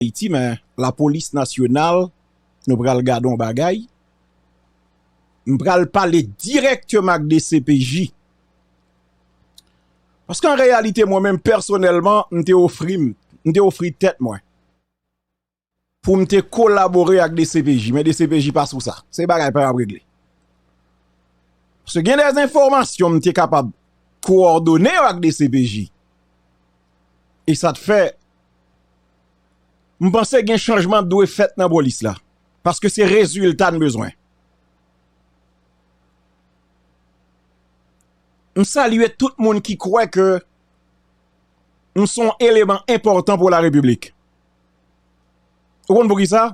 Ayiti men lapolis nasyonal nou pral gade yon bagay m pral pale dirèkteman ak dcpj paske an reyalite mwen menm pèsonèlman m te ofri m m te ofri tèt mwen pou m te kolabore ak dcpj men dcpj pa sou sa se bagay pa ap regle se gen de enfòmasyon m te kapab kowòdone yo ak dcpj e sa te fè M panse gen chanjman k dwe fèt nan polis la paske se rezilta n bezwen. M salye tout moun ki kwè ke m son eleman enpòtan pou la repiblik. Ou konn pou ki sa?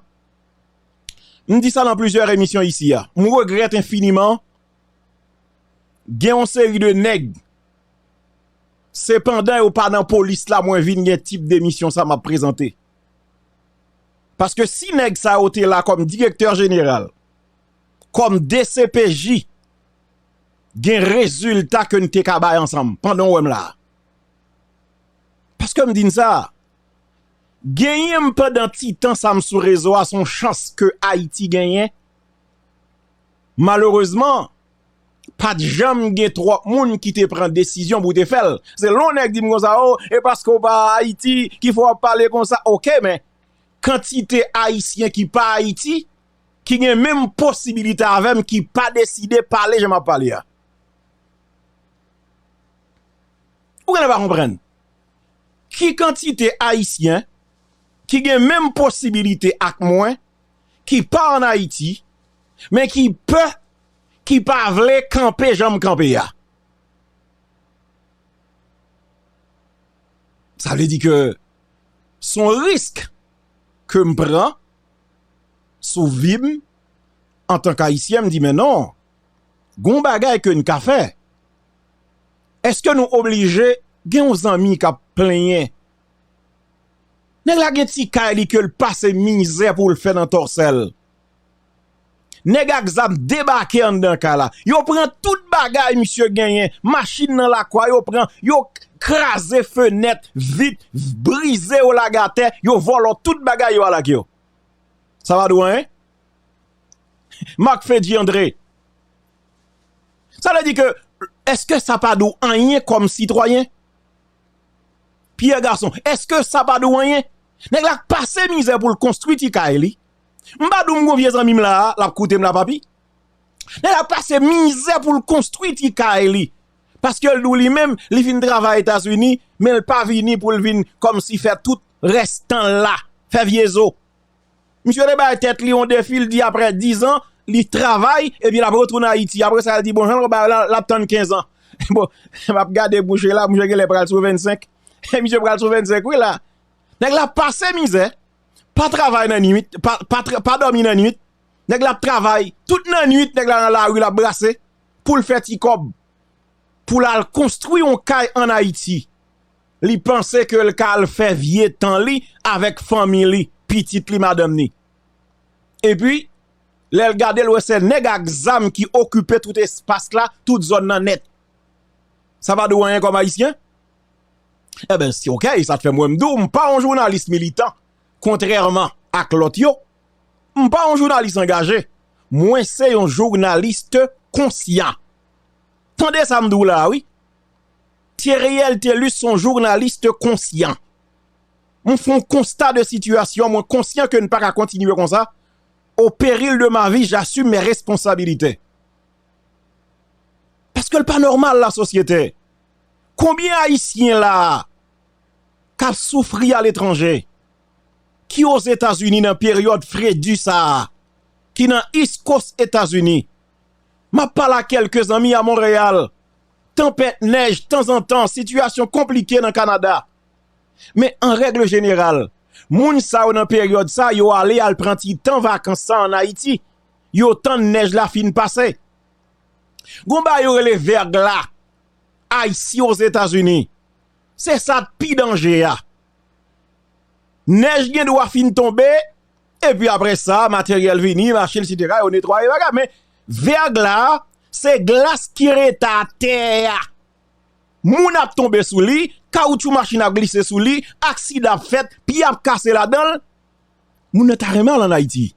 M di sa nan plizyè emisyon isi a. M regrèt enfiniman gen yon seri de nèg. Se pandan yo pa nan polis la mwen vin gen tip demisyon sa map prezante. Paske si nèg sa yo te la kòm direktè jeneral, kòm dcpj, gen rezilta ke n te ka bay ansanm, pandan w wè m la. Paske m di n sa, genyen m pandan ti tan sa m sou rezo a son chans ke Ayiti genyen, malerezman, pat janm gen twòp moun ki te pran desizyon pou te fèl se lè yon nèg dim konsa oh e paske ou pa ayiti ki fè wap pale konsa ok men kantite ayisyen ki pa ayiti ki gen menm posibilite avèm ki pa deside pale jan map pale a ou genlè pa konprann ki kantite ayisyen ki gen menm posibilite ak mwen ki pa an ayiti men ki pè ki pa vle kanpe janm kanpe ya. Sa vle di ke son risk ke m pran sou vi m antank ayisyen m di men non gon bagay ke n ka fè. Eske nou oblije gen yon zanmi kap plenyen nèg la gen ti kay li ke l pase mizè pou l fè nan tòsè l. Nèg ak zam debake anndan kay la. Yo pran tout bagay misye genyen. Machin nan lakwa yo pran. Yo kraze fenèt, vit, brize yo lage atè. Yo vòlò tout bagay yo al ak yo. Sa pa dwanyen? Marc Fedji André, Sa vle di ke, eske sa pa di w anyen kòm sitwayen? Pierre Garçon, Eske sa pa di w anyen? Nèg la k pase mizè pou l konstwi ti kay li. M pa di w m gen yon vye zanmi m la a, l ap koute m la papi. Nèg la pase mizè pou l konstwi ti kay li. Paske l di w li menm, li fin travay Etazini, men l pa vini pou l vin kòmsi fè tout rès tan l la, fè vye zo. Misye te bay tèt li yon defi, l di aprè dizan, li travay, epi l ap retounen Ayiti. Aprè sa l di bon jan l wè bagay la, l ap tann kenzan. Bon, m ap gade mouche la, mouche genlè pral sou vennsenk. Misye pral sou vennsenk wi la. Nèg la pase mizè. pa travay nan nwit, pa dòmi nan nwit, nèg la ap travay, tout nan nwit nèg la nan lari l ap brase pou l fè ti kòb, pou l al konstwi yon kay an Ayiti, li panse ke l ka al fè vye tan li avèk fanmi li, pitit li, madanm ni. E pi, lè l gade l wè se nèg ak zam ki okipe tout espas la, tout zòn nan nèt. Sa pa di w anyen kòm Ayisyen? Enben si ok, sa t fè m wè m di w m pa yon jounalis militan kontrèman ak lòt yo, m pa yon jounalis angaje, mwen se yon journaliste konsyan. Tande sa m di w la a wi. Theriel Thelus son journaliste konsyan. M fè yon konsta de sitiyasyon, mwen konsyan ke n pa ka kontinye konsa, o peril de ma vi j'assume mes responsabilités. Paske l pa nòmal la sosyete. Konbyen ayisyen la a kap soufri a letranje ki o zetazini nan peryòd fredi sa a ki nan east coast etazini map pale a kelke zanmi a Montreal tanpèt nèj tanzantan sitiyasyon konplike nan Canada men an règle jeneral moun sa yo nan peryòd sa yo ale al pran ti tan vakans sa an ayiti yo tann nèj la fin pase gon bagay yo rele verglas Ayisyen Ozetazini. Se sa k pi danje a. Nèj gen dwa fin tonbe, epi apre sa, materyèl vini, machin, etsetera, yo netwaye bagay. Men, vèg la, se glas ki rete atè a. Moun ap tonbe sou li, kawoutchou machin ap glise sou li, aksidan ap fèt, pye ap kase ladan l. Moun nan ta renmen al ann Ayiti.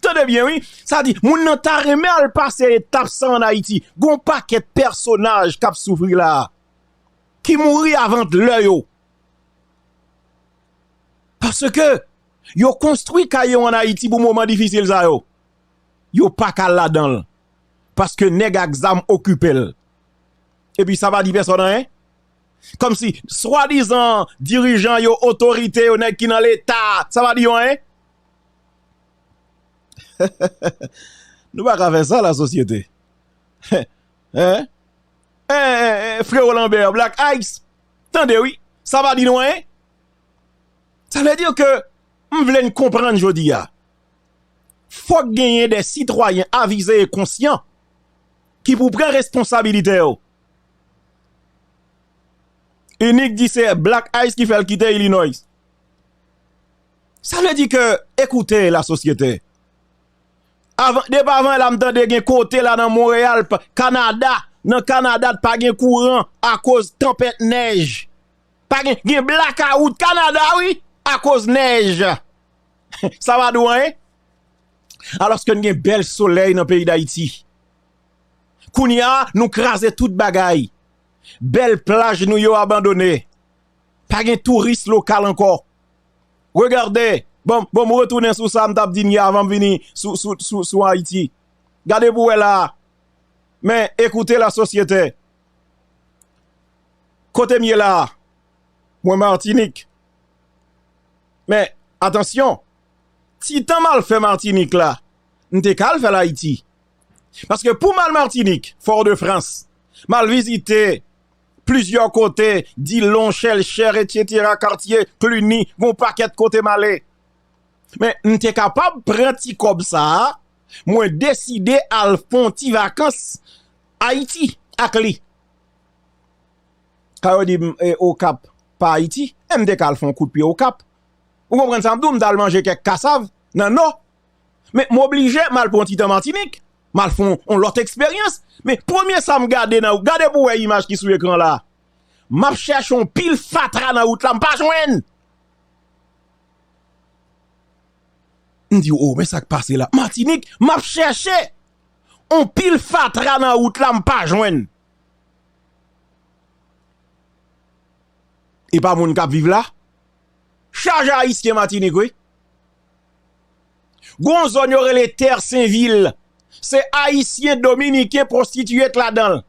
Tande byen wi, sa di moun nan ta renmen al pase etap sa an Ayiti. Gon pakèt pèsonaj k ap soufri la a, ki mouri avant lè yo. Paske yo konstwi kay yo an Ayiti pou moman difisil sa yo. Yo pa ka al ladan l. Paske nèg ak zam okipe l. Epi sa pa di pèsòn anyen. Kòmsi swadizan dirijan yo, otorite yo, nèg ki nan leta a, sa pa di yo anyen? Nou pa ka fè sa la sosyete. Freo Lambert, Black Ice, tande wi, sa pa di nou anyen? Sa vle di ke m vle n konprann jodi a. Fòk genyen de sitwayen avize e konsyan ki pou pran responsabilite yo. Inik di se Black Ice ki fèl kite Illinois. Sa vle di ke ekoute la sosyete. Depi avan la m tande gen kote la nan Montreal, Canada, nan Canada t pa gen kouran akoz tanpèt nèj. Pa gen, gen blackout Canada wi akoz nèj. Sa pa di w anyen? Alòske n gen bèl solèy nan peyi Dayiti. Kounya nou kraze tout bagay. Bèl plaj nou yo abandone. Pa gen touris lokal ankò. Regarde, bon m retounen sou sa m t ap di n yè avan m vini sou Ayiti. Gade pou wè la a. Men, écoutez la société. Kote m ye la a? Mwen Martinique. Men, atansyon, ti tan m al fè Martinique la, m te ka al fè l Ayiti. Paske pou m al Martinik, Fort de France, m al vizite plizyè kote, Dillon, Chèlchè, etsetera, Kartye, Cluny, gon pakèt kote m ale. Men, m te kapab pran ti kòb sa a, mwen deside al fè yon ti vakans Ayiti ak li. Ka yo di m, e Okap pa Ayiti? E m te ka al fè yon kout pye Okap. Ou konprann sa m di w? M t al manje kèk kasav nan Nò, men m oblije m al pran yon ti tan Matinik, m al fè yon lòt eksperyans, men premye sa m gade nan, gade pou w wè imaj ki sou ekran la, m ap chèche yon pil fatra nan wout la m pa jwenn! M di o men sa k pase la, Matinik, m ap chèche yon pil fatra nan wout la m pa jwenn! E pa moun k ap viv la? Chaje Ayisyen Matinik wi! Gon zòn yo rele Terre Saint Vil, se ayisyen dominiken pwostitiye k ladanl.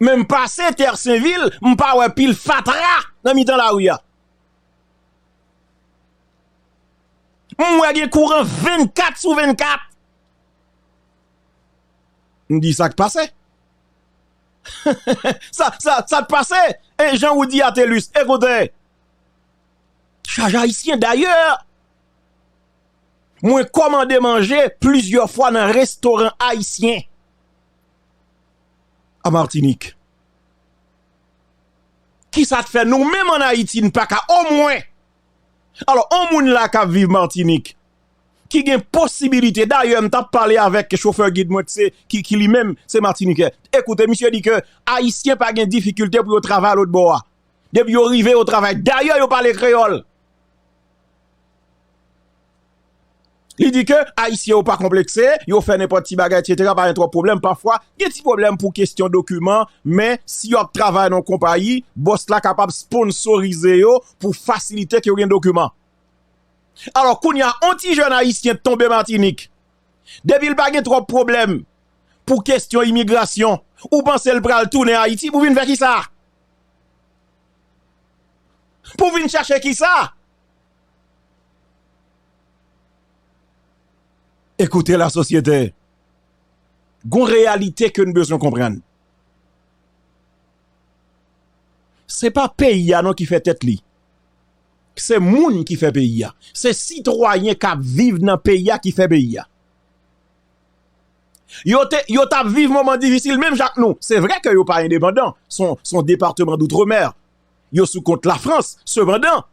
Men m pase Terre Saint Vil, m pa wè pil fatra nan mitan lari a. M wè gen kouran 24 sou 24. M di sa k pase? Sa k pase? E jan ou di a Telus, ekoute. Chaj Ayisyen dayè mwen kòmande manje plizyè fwa nan restoran Ayisyen an Martinik. Kisa k fè nou menm an Ayiti n pa ka omwen alò on moun la k ap viv Martinik ki gen posibilite dayè m t ap pale avèk chofè gid mwen ki li menm se matinikè e koute misye di ke Ayisyen pa gen difikilte pou yo travay lotbò a. Depi yo rive yo travay. Dayè yo pale kreyòl. Li di ke Ayisyen yo pa konplekse, yo fè nenpòt ti bagay etc. Pa gen twòp pwoblèm. Pafwa gen ti pwoblèm pou kestyon dokiman. Men si yo ap travay nan yon konpayi, bòs la kapab sponsorize yo pou fasilite ke yo gen dokiman. Alò kounye a, yon ti jèn Ayisyen tonbe Matinik. Depi li pa gen twòp pwoblèm pou kestyon imigrasyon, ou panse li pral tounen Ayiti pou vin fè kisa? Pou vin chache kisa? Ekoute la sosyete, gon reyalite ke n bezwen konprann. Se pa peyi a non ki fè tèt li. Se moun ki fè peyi a. Se sitwayen kap viv nan peyi a ki fè peyi a. Yo te, yo tap viv moman difisil menm jan ak nou. Se vre ke yo pa endepandan, son departeman doutremer. Yo sou kont la Frans. Sepandan,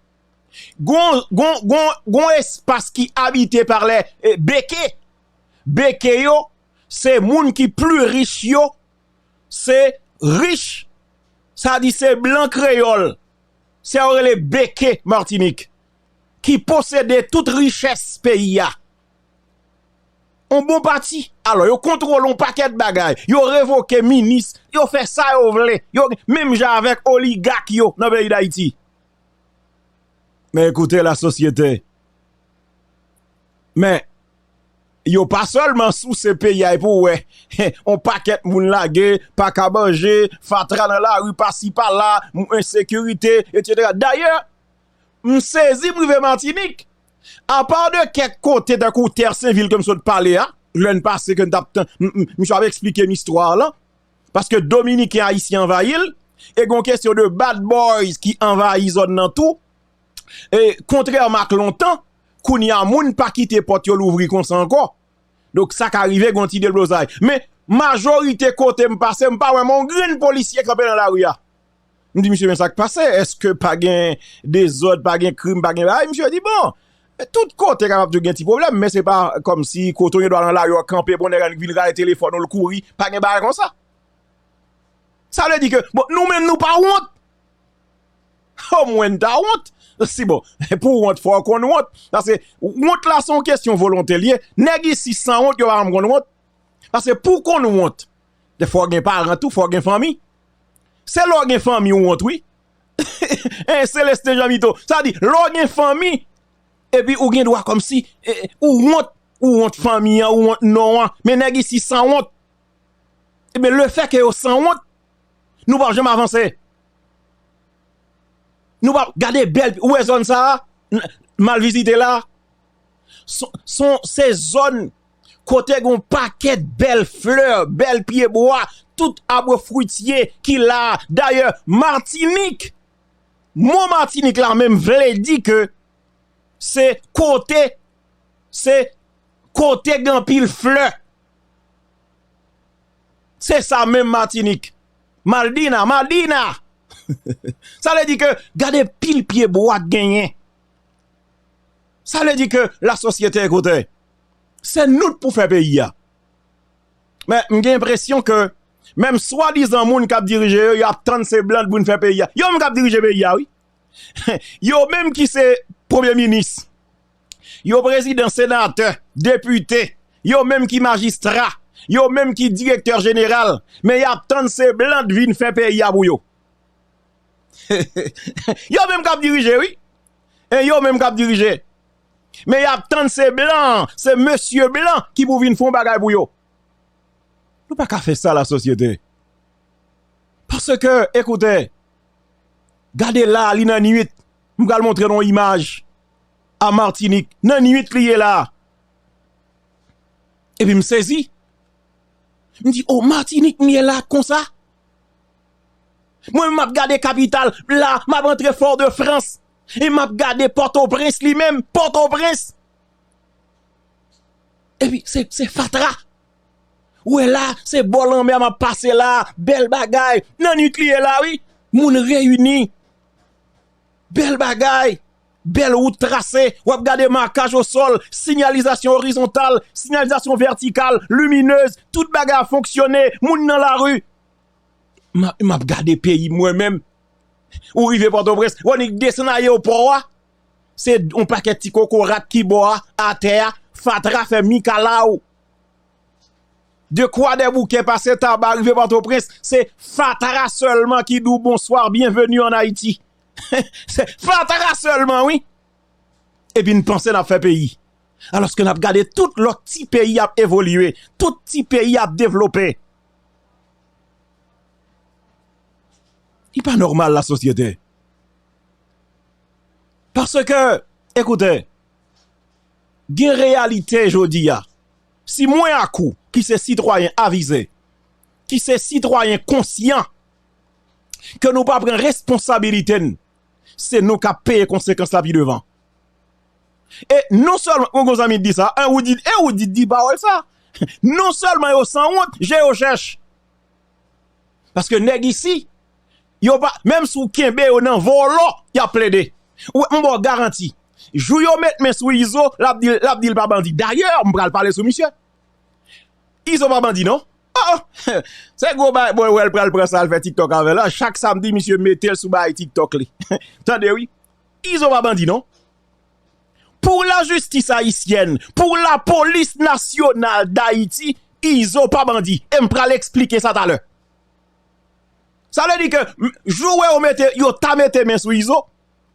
gon, gon, gon, gon espas ki abite par lè beke. Beke yo, se moun ki pli rich yo, se rich, sa di se blan kreyol, sa yo rele beke Martinik, ki posede tout riches peyi a. On bon pati. Alò yo kontwole on pakèt bagay. Yo revoke minis. Yo fè sa yo vle. Yo gen, menm jan avèk oligak yo nan peyi Dayiti. Men ekoute la sosyete. Men, yo pa sèlman souse peyi a epi ou wè. On pakèt moun lage, pa ka manje, fatra nan lari pasi pala, ensekirite, etc. Dayè, m sezi m rive Matinik. Apa de kèk kote tankou Tè Senvil ke m sot pale a, lè n pase ke n t ap tann, misye ap esplike m istwa lan, paske Dominiken Ayisyen anvayi l, e gon kesyon de Bad Boys ki anvayi zòn lan tou, e kontrèman ak lontan, kounye a moun pa kite pòt yo louvri konsa ankò, donk sa ka rive gon ti deblozay. Men majorite kote m pase, m pa wè menm yon grenn polisye kanpe nan lari a, M di misye men sa k pase, èske pa gen dezòd, pa gen krim, pa gen bagay? Misye di bon, tout kote kapab toujou gen ti pwoblèm, men se pa kòm si kote w gen dwa nan lari w kanpe, bon nèg la vin rale telefòn ou l kouri, pa gen bagay konsa. Sa vle di ke bon nou menm nou pa wont? O mwen n ta wont. Si bon, pou w wont fò w konn wont. Pase wont la se yon kesyon volonte l ye. Nèg isi san wont yo pa janm konn wont. Pase pou w konn wont, Gen fò gen paran tou fò gen fanmi se lè w gen fanmi w wont wi eh Celestin Jean Mito sa vle di lè w gen fanmi epi ou gen dwa kòmsi ou wont ou wont fanmi an ou wont non an men nèg isi san wont enben le fè ke yo san wont nou pap janm avanse nou pap gade bèl ou wè zòn sa a mal vizite la. Se zòn kote gon pakèt bèl flè, bèl pye bwa, tout abre fritye ki la. Dayè Matinik, mo Matinik la menm vle di ke se kote, se kote gen anpil flè. Se sa menm Matinik. Maldina, Madina! Sa vle di ke gade pil pye bwa k genyen. Sa vle di ke la sosyete ekoute se nou k pou fè peyi ya. Men m gen enpresyon ke menm swadizan moun k ap dirije yo, yo ap tann se blan k pou vin fè peyi ya. Yo menm k ap dirije peyi ya wi. Yo menm ki se premye minis, yo prezidan, senatè, depite, yo menm ki majistra, yo menm ki direktè jeneral, men y ap tann se blan k vin fè peyi ya pou yo. Yo menm k ap dirije wi. E yo menm kap dirije. Men yap tann se blan, se mesye blan ki pou vin fon bagay pou yo. Nou pa ka fè sa la sosyete. Pase ke ekoute, gade la li nan nwit, m pral montre nou imaj a Martinik, nan nwit li ye la. E pi m sezi. M di o Martinik m ye la konsa. Mwen menm map gade kapital la map antre fort de France e map gade potoprens li menm potoprens epi se fatra ou wè la se bò lanmè map pase la bèl bagay nan nwit li ye la wi moun reyini bèl bagay bèl wout trase wap gade makaj o sol sinyalizasyon orizontal sinyalizasyon vètikal liminez tout bagay ap fonksyone moun nan lari. Map gade peyi mwen menm. Ou rive pòtoprens ou annik desann aye o pò a se on pakèt ti kokorat ki bò a atè a fatra fè mikalaw de kwa dè boukè pase taba rive pòtoprens se fatra sèlman ki di w bonswa byenveni an ayiti se fatra sèlman wi epi n panse n ap fè peyi alòske n ap gade tout lòt ti peyi ap evolye tout ti peyi ap devlope Li pa nòmal la sosyete. Paske, ekoute, gen reyalite jodi a. Si mwen ak ou ki se sitwayen avize, ki se sitwayen konsyan, ke nou pa pran responsabilite n, se nou k ap peye konsekans la pi devan. E non sèlman, kon kon zanmi di sa, e ou di, e ou di di pawòl sa. Non sèlman yo sanwont, je yo chèch. Paske nèg isi, yo pa, menm si ou kenbe yo nan vòlò, y ap plede. Ou wè, m ba w garanti, jou yo met men sou Izo, l ap di, l ap di l pa bandi. Dayè, m pral pale sou misye. Izo pa bandi non. O! Se gwo bagay, bon, wè l pral pran sa, l fè tiktok avè l. Chak samdi misye mete l sou bagay tiktok li. Tande wi. Izo pa bandi non. Pour la justice haïtienne, pour la police nationale d'Haïti, Izo pa bandi e m pral esplike sa talè. Sa vle di ke jou wè yo mete, yo ta mete men sou Izo,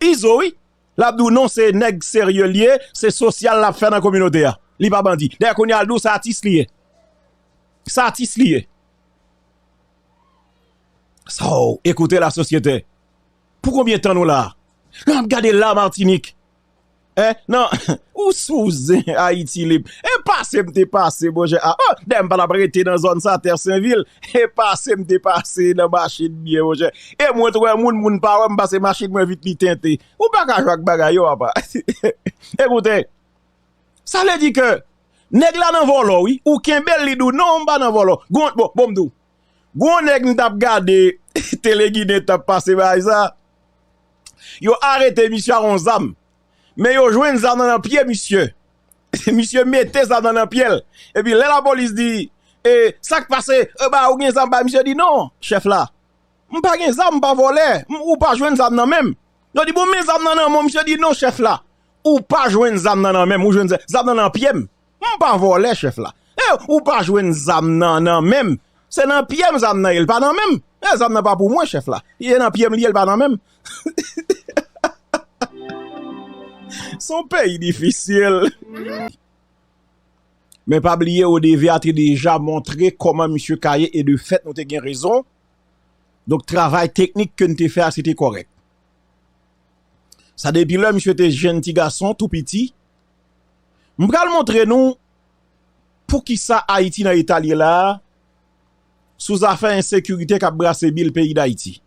Izo wi, l ap di w non se nèg serye l ye, se sosyal l ap fè nan kominote a. Li pa bandi. Dayè kounye a l di w se atis li ye. Se atis li ye. Sow, écoutez la société. Pou konbyen tan nou la? Nan ap gade la Martinik. Eh nan ou sou zen Ayiti lib. E pase m te pase bon jan a. Oh dayè m pa tap rete nan zòn sa tè sen vil. E pase m te pase nan machin byen bon jan. E mwen t wè moun moun pa wè m pase machin mwen vit li tente. Ou pa ka jwe ak bagay yo apa. E koute. Sa vle di ke nèg la nan vòlò wi. Ou kenbe l li di w non m pa nan vòlò. Gon bon bon m di w. Gou yon nèg m tap gade tele ginen tap pase bagay sa yo arete misye ak yon zam men yo jwenn zam nan nan pye misye misye mete zam nan nan pyel epi lè lapolis di e sak pase e ba ou gen zam bay misye di non chèf la m pa gen zam m pa vòlè ou pa jwenn zam nan menm yo di bon men zam nan nan menw misye di non chèf la ou pa jwenn zam nan nan menm ou jwenn zam nan nan pyem. M pa vòlè chèf la. E ou pa jwenn zam nan nan men m? Se nan pye m zam nan ye l pa nan men m. E zam nan pa pou mwen chèf la. E nan pye m li ye l pa nan men m. Se yon peyi difisil. Men pa bliye Odeve a te deja montre kòman misye ka ye e de fèt nou te gen rezon. Donk travay teknik ke n te fè a se te kòrèk. Sa depi lè misye te jenn ti gason tou piti M pral montre nou poukisa Ayiti nan eta l ye la a sou zafè ensekirite k ap brase bil peyi Dayiti.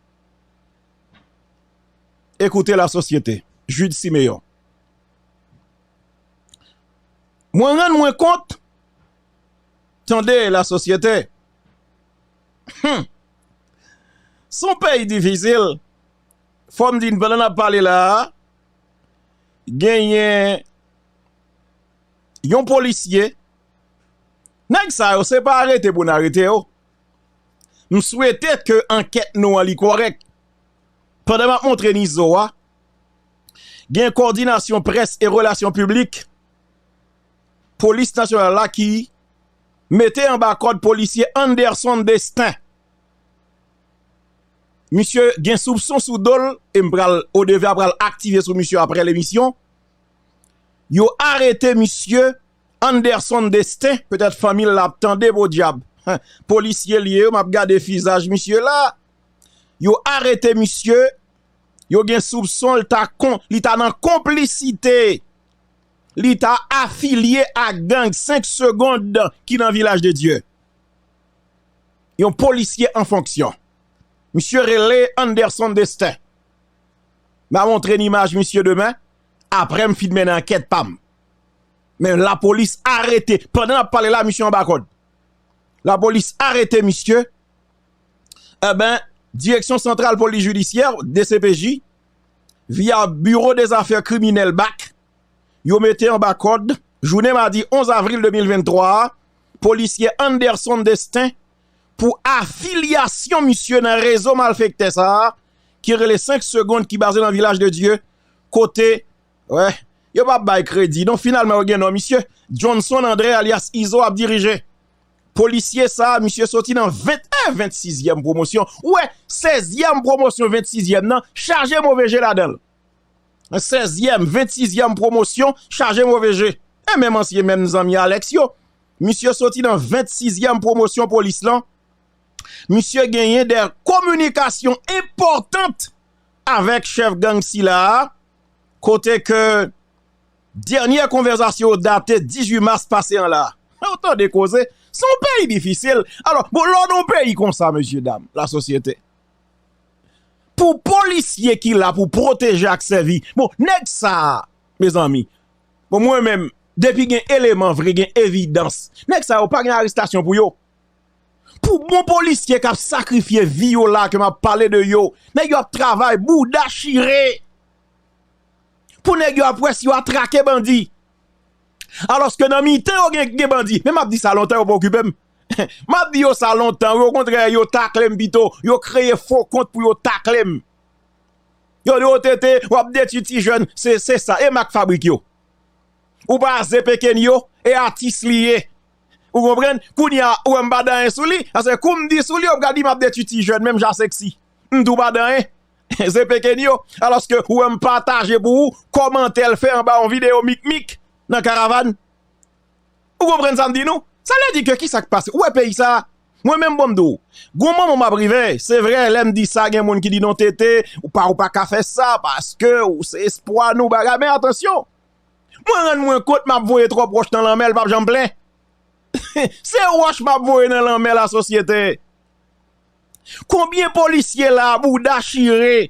Écoutez la société, Jude Siméon Mwen rann mwen kont, tande la sosyete, hum, s on peyi difisil, fò m di n pandan n ap pale la a, genyen yon polisye, nèg sa yo se pa arete pou n arete yo, m swete ke ankèt nou an li korèk, pandan m ap montre n izo a, gen kòdinasyon près e relasyon piblik, polis nasyonal la ki mete anba kòd polisye Anderson Destin. Misye gen soupson sou do l e m pral ODEVA pral aktive sou misye aprè l emisyon. Yo arete misye Anderson Destin petèt fanmi l ap tande podyab polisye l ye yo m ap gade fizaj misye la. Yo arete misye yo gen soupson l ta kon li ta nan konplisite li ta afilye ak gang 5 segond ki nan Vilaj de Dye. yon polisye an fonksyon. Misye rele Anderson Destin. M a montre n imaj misye demen, apre m fin mennen ankèt pa m. Men lapolis arete, pandan n ap pale la misye anba kòd. Lapolis arete misye, e ben, Direksyon Santral Polis Jidisyè, DCPJ, via Biro Dezafè Kriminèl, bak, yo mete anba kòd jounen madi 11 avril 2023 a polisye Anderson Destin pou afilyasyon misye nan rezo malfektè sa a ki rele 5 segond ki baze nan Vilaj de Dye kote yo pa bay kredi non finalman yo gen non misye Johnson André alyas Izo ap dirije. Polisye sa a misye soti nan 20 e 26 yèm pwomosyon ou wè 16 yèm pwomosyon 26 yèm nan chaje move je ladan l. sèzyèm, ventsizyèm pwomosyon chaje move je. E menm ansyen menm zanmi Alex yo, misye soti nan ventsizyèm pwomosyon polis lan, misye genyen dè kominikasyon enpòtant avèk chèf gang sila a, kote ke dènyè konvèzasyon yo date 18 mas pase an la. Ou tande koze, son peyi difisil. Alò, bon lò nan yon peyi konsa, mesye dam, la sosyete. Pou polisye ki la pou pwoteje ak sèvi. Bon nèg sa a mezanmi. Bon mwen menm depi gen eleman vre gen evidans. Nèg sa yo pa gen arestasyon pou yo. Pou bon polisye kap sakrifye vi yo la ke map pale de yo. Nèg yo ap travay bouda chire. Pou nèg yo ap wè si yo atrake bandi. Aloske nan mitan yo gen bandi. Men map di sa lontan yo pa okipe m. Map di yo sa lontan wi okontrè yo taklem pito, yo kreye fo kont pou yo taklem. Yo di w TT wap detwi ti jèn, se se sa e mak fabrik yo. Ou pa ze pekenyo e atis li ye. Ou konprann, kounye a ou wè m pa di anyen sou li, paske kou m di sou li yo pral di map detwi ti jèn menm jan a seksi. M tou pa di anyen. Ze pekenyo, alòske ou wè m pataje pou ou, kòmantè l fè anba yon videyo mikmik nan karavàn. Ou konprann sa m di nou? Sa vle di ke ki sa k pase? Ou wè peyi sa a? Mwen menm bon m di w, gon moman m ap rive, se vre lè m di sa gen moun ki di non TT, ou pa ou pa ka fè sa paske ou se espwa nou bagay men atansyon, mwen rann mwen kont m ap voye twòp wòch nan lanmè l pap janm plen. Se wòch m ap voye nan lanmè la sosyete. Konbyen polisye la a bouda chire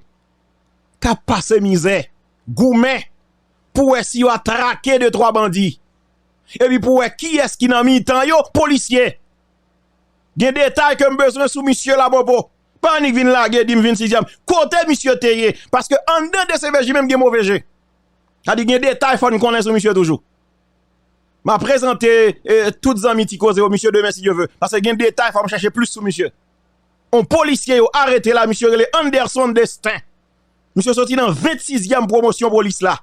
k ap pase mizè, goumen. pou wè si yo a trake de twa bandi epi pou wè kiyès ki nan mitan yo polisye gen detay ke m bezwen sou misye la popo pa annik vin lage di m vin sizyèm kote misye te ye paske anndan dcpj menm gen move je sa di gen detay fò n konnen sou misye toujou m a prezante tout zanmi ti koze yo misye demen si dye ve paske gen detay fò m chache plis sou misye on polisye yo arete la misye rele Anderson Destin. Misye soti nan 26 yèm pwomosyon polis la.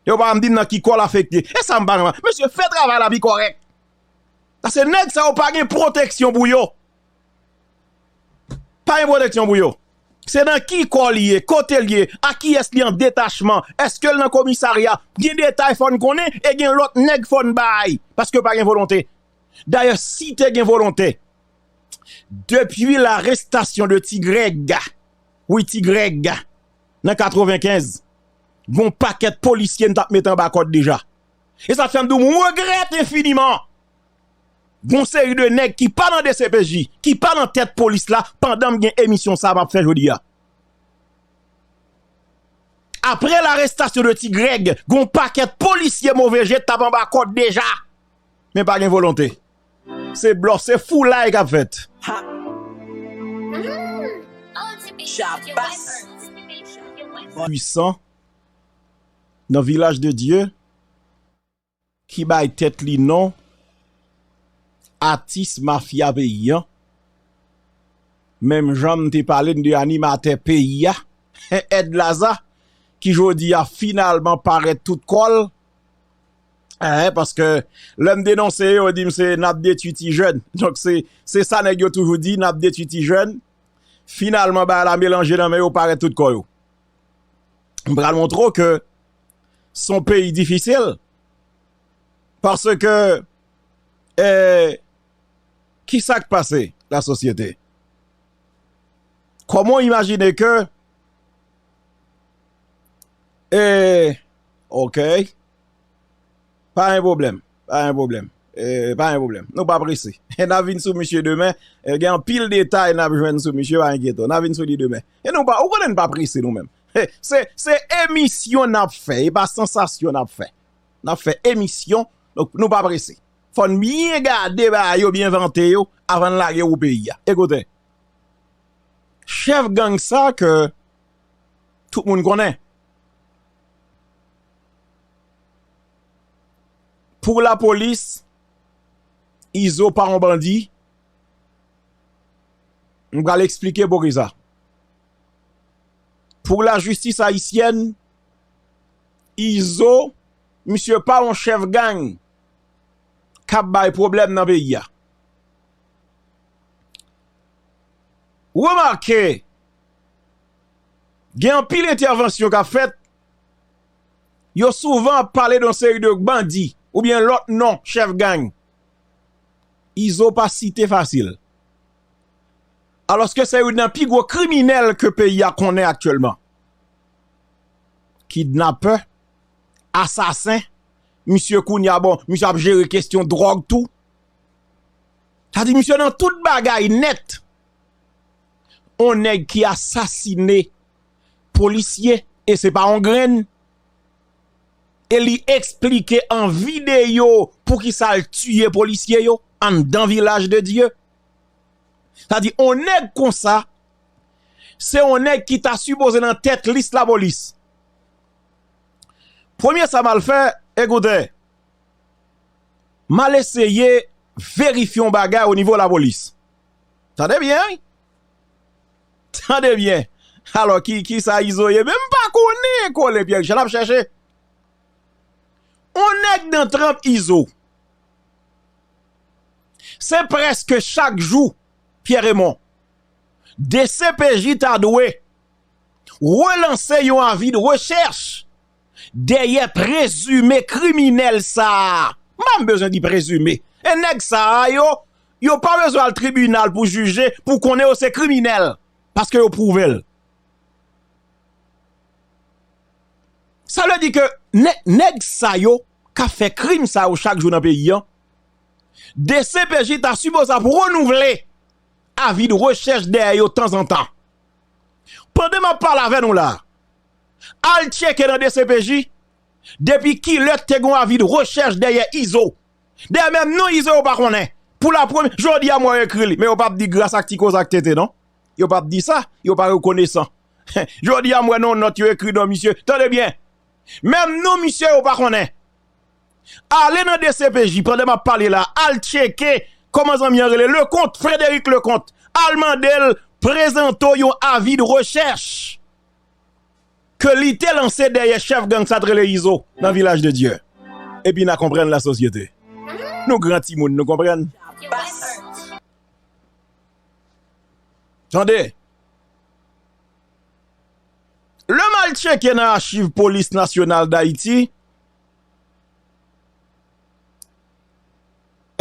Yo pa anm dim nan ki kòl afekte. E sa m pa anm. Misye fè travay la pi kòrèk. Ase nèg sa yo pa gen pwoteksyon pou yo. Pa gen pwoteksyon pou yo. Se nan ki kòl li ye, kote li ye, a ki es li an detachman, eske l nan komisarya. Gen detay fòn konnen e gen lòt nèg fòn bay. Paske pa gen volonte. Dayè si te gen volonte. Depi la restasyon de ti grèga. Wi ti Greg, nan 95, gon pakèt polisye n tap met anba kòd deja. E sa k fè m di w m regrèt enfiniman gon seri de nèg ki pa nan dcpj, ki pa nan tèt polis la pandan m gen emisyon sa a m ap fè jodi a. Aprè larestasyon de ti Greg, gon pakèt polisye move je t ap anba kòd deja. Men pa gen volonte. Se blòf, se foulay kap fèt. Pwisan nan vilaj de Dye ki bay tèt li non atis mafya peyi an menm jan m te pale n de animatè peyi a Edlaza ki jodi a finalman parèt tout kò l. Hein paske lèm denonse yo dim se nap detwi ti jèn donk se se sa nèg yo toujou di nap detwi ti jèn finalman bagay la melanje nan men yo parèt tout kò yo m pral montre w ke son peyi difisil paske eh kisa k pase la sosyete kòman w imajine ke eh Ok Pa gen pwoblèm Pa gen pwoblèm Pa gen pwoblèm Nou pa prese Nap vin sou misye demen Gen anpil detay nap jwenn sou misye Pa enkyete w Nap vin sou li demen Ou konnen nou pa prese nou menm Se emisyon nap fè E pa sansasyon nap fè Nap fè emisyon Nou pa prese Fò n byen gade bagay yo Byen vante yo Avan n lage wou peyi a Ekoute Chèf gang sa ke Tout moun konnen Pou la polis, Izo pa yon bandi. M pral eksplike pou ki sa. Pou la jistis ayisyèn, Izo, misye pa yon chèf gang k ap bay pwoblèm nan peyi a. Remake! gen anpil entèvansyon kap fèt, yo souvan ap pale de yon seri de bandi oubyen lòt non chèf gang, Izo pa site fasil, alòske se youn nan pi gwo kriminèl ke peyi a konnen aktyèlman, kidnapè, asasen, misye kounye a bon, misye ap jere kestyon dròg tou, sa di misye nan tout bagay nèt. on nèg ki asasine polisye e se pa on grenn e li esplike an videyo pou ki sa l tiye polisye yo anndan vilaj de Dye. Sa di on nèg kon sa se on nèg ki ta sipoze nan tèt lis lapolis. Premye sa m al fè, ekoute, m al eseye verifye on bagay o nivo lapolis. Tande byen wi! Tande byen! Alò ki kisa Izo ye menm? M pa konnen kole pyè Richard nap chèche. On nèg nan tranp Izo. Se prèske chak jou Pierre Raymond dcpj ta dwe relanse yon avi de rechèch. dèyè prezime kriminèl sa a, m pa menm bezwen di prezime, e nèg sa a yo, yo pa bezwen al tribinal pou jije, pou konnen yo se kriminèl, paske yo pwouve l. Sa vle di ke nèg sa yo k ap fè krim sa yo chak jou nan peyi an, dcpj ta sipoze ap renouvle avi de rechèch dèyè yo tanzantan. Pandan m ap pale avè nou la a, Al tcheke nan dcpj depi kilè k te gon avi de rechèch dèyè Izo. Dèyè menm non Izo yo pa konnen. Pou la premye, jodi a mwen ekri li men yo pap di gras ak ti koze ak tete non. Yo pap di sa, yo pa rekonesan. Jodi a m wè nan yon nòt yo ekri non misye. Tande byen, menm non misye yo pa konnen. Ale nan dcpj pandan m ap pale la a, al tcheke kòman zanmi an rele, Leconte, Frédéric Leconte. Al mande l prezante w yon avi de rechèch. ke li te lanse dèyè chèf gang sa t rele Izo nan Vilaj de Dye epi na konprann la sosyete nou gran timoun nou konprann tande lè m al tcheke nan achiv polis nasyonal dayiti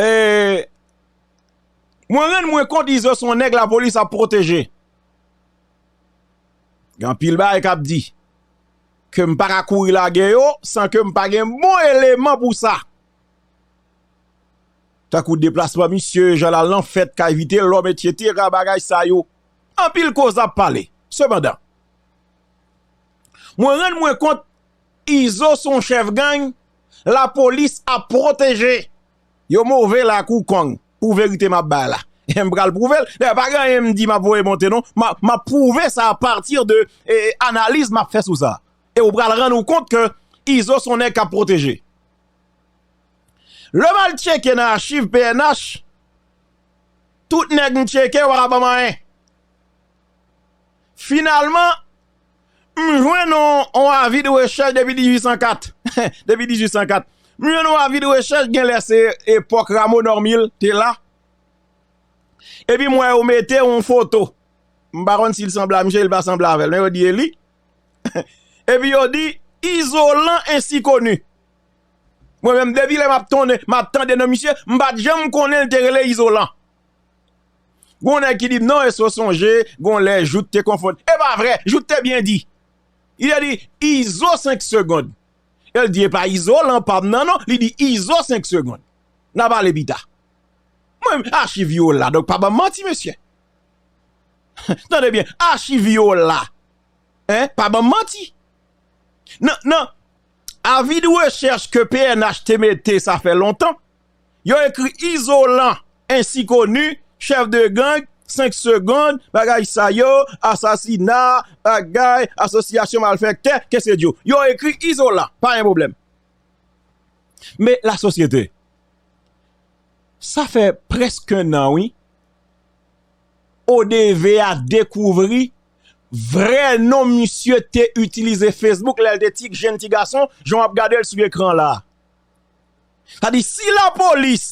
ee mwen rann mwen kont Izo son nèg lapolis ap pwoteje. Gen anpil bagay k ap di ke m pa ka kouri lage yo san ke m pa gen bon eleman pou sa. Tankou deplasman misye, jan l al nan fèt kay Vitelòm etsetera bagay sa yo. Anpil koze ap pale. Sepandan, mwen rann mwen kont Izo son chèf gang lapolis ap pwoteje. Yo move la kou kong pou verite map bay la. M pral prouvel. Dayè pa gen anyen m di map voye monte non. Map prouve sa a pati de analiz map fè sou sa. E ou pral rann ou kont ke Izo son nèg kap pwoteje. Lèm al tcheke nan achiv pnh, tout nèg m tcheke yo pa ka banm anyen. Finalman. M jwenn yon avi de rechèch depi 1804. Depi 1804. M jwenn yon avi de rechèch gen lè se epòk Rameau Normil te la. Epi m wè yo mete yon foto. M pa konn si l sanble a misye, li pa sanble avè l. Men yo di e li. Epi yo di izolan ensi koni. Mwen menm depi lè m ap tande non misye, m pa t janm konnen l te rele izolan. Gon nèg ki di m non èske w sonje gon lè Jout te konfonn e pa vre Jout te byen di li te di Izo 5 segond e l di e pa Izolan pa m nan non li di Izo 5 segond n a pale pita mwen menm achiv yo la donk pa ban m manti mesye tande byen achiv yo la pa ban m manti nan nan avi de rechèch ke pnh te mete sa fè lontan Yo ekri Izolan ensi koni, chèf de gang, 5 segond, bagay sa yo, asasina, bagay, asosyasyon malfèktè, kesedyo. Yo ekri Izolan, pa gen pwoblèm. Men lasosyete, sa fè prèsk 1 an wi, ODV a dekouvri vrè non misye te itilize Facebook lè l te ti jèn ti gason, jan w ap gade l sou ekran la a. Sa di si la polis,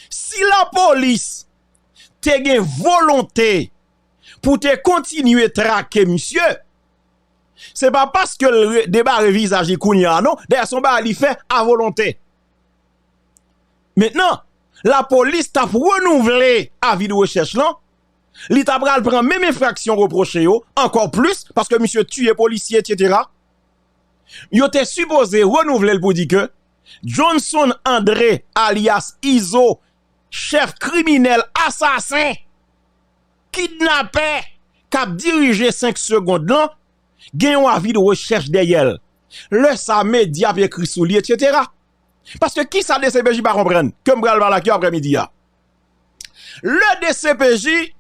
si la polis te gen volonte pou te kontinye trake misye, se pa paske l debare vizaj li kounye a non, dayè son bagay li fè a volonte. Mentnan, la polis t ap renouvle avi de rechèch lan, li ta pral pran menm enfraksyon repwoche yo, ankò plis, paske misye tiye polisye, etsetera. Yo te sipoze renouvle l pou di ke Johnson André alyas Izo chèf kriminèl asasen kidnapè kap dirije 5 segond lan gen yon avi de rechèch dèyè l. Lè sa medya ap ekri sou li etc. Paske kisa dcpj pa konprann ke m pral pale ak yo aprè midi a? Le dcpj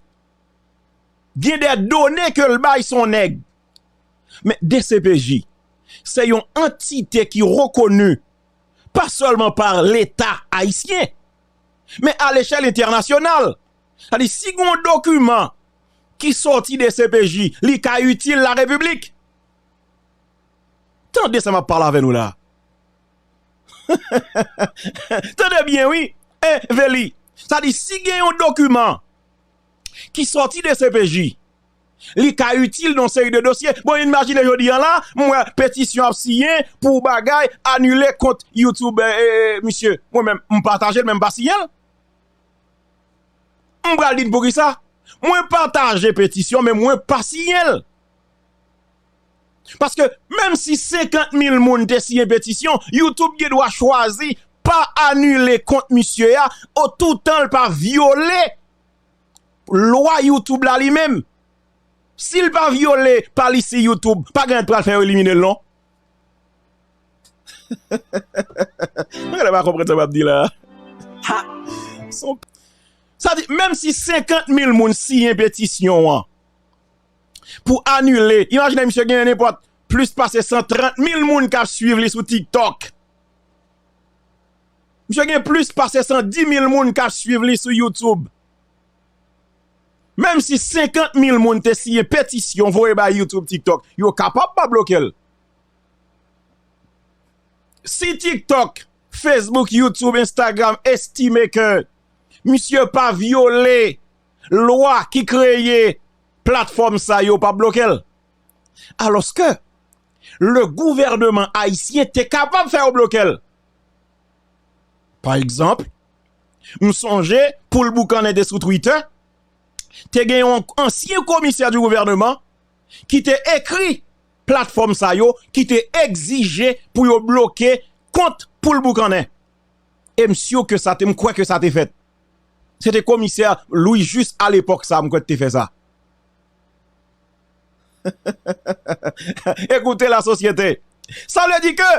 gen de done ke l bay son nèg Men dcpj se yon antite ki rekoni pa sèlman pa leta ayisyen men a lechèl entènasyonal. Sa di si gen yon dokiman ki sòti dcpj li ka itil la repiblik. Tande sa map pale avè nou la. Tande byen wi eh Veli. Sa di si gen yon dokiman ki sòti dcpj. li ka itil nan yon seri de dosye. Bon imajine jodi an la, m wè petisyon ap siyen pou bagay anile kont youtube misye. Mwen menm m pataje l men m pa siyen l. M pral di n poukisa, mwen pataje petisyon men mwen pa siyen l. Paske menm si 50 mil moun te siyen petisyon, youtube gen dwa chwazi pa anile kont misye a otoutan l pa vyole. lwa youtube la li menm sil pa vyole palisi youtube pa gen ann pral fè yo eliminel non mwen genlè pa konprann sa map di la ha son pil sa vle di menm si 50 mil moun siyen petisyon an pou anile imajine misye gen nenpòt plis pase 130 mil moun kap swiv li sou tiktok. Misye gen plis pase 110 mil moun k ap swiv li sou YouTube. Menm si 50 mil moun te siyen petisyon voye bay YouTube TikTok, yo kapab pa bloke l. Si TikTok, Facebook, YouTube, Instagram estime ke misye pa vyole lwa ki kreye platfòm sa yo pa bloke l. Alòske le gouvèneman ayisyen te kapab fè yo bloke l. Pa egzanp, m sonje poul boukannen te sou twitè, te gen yon ansyen komisè di gouvèneman ki te ekri platfòm sa yo ki te egzije pou yo bloke kont poul boukannen. E m sur ke sa te, m kwè ke sa te fèt. Se te komisè Louis Juste a lepòk sa m kwè ki te fè sa. Ekoute la sosyete! Sa vle di ke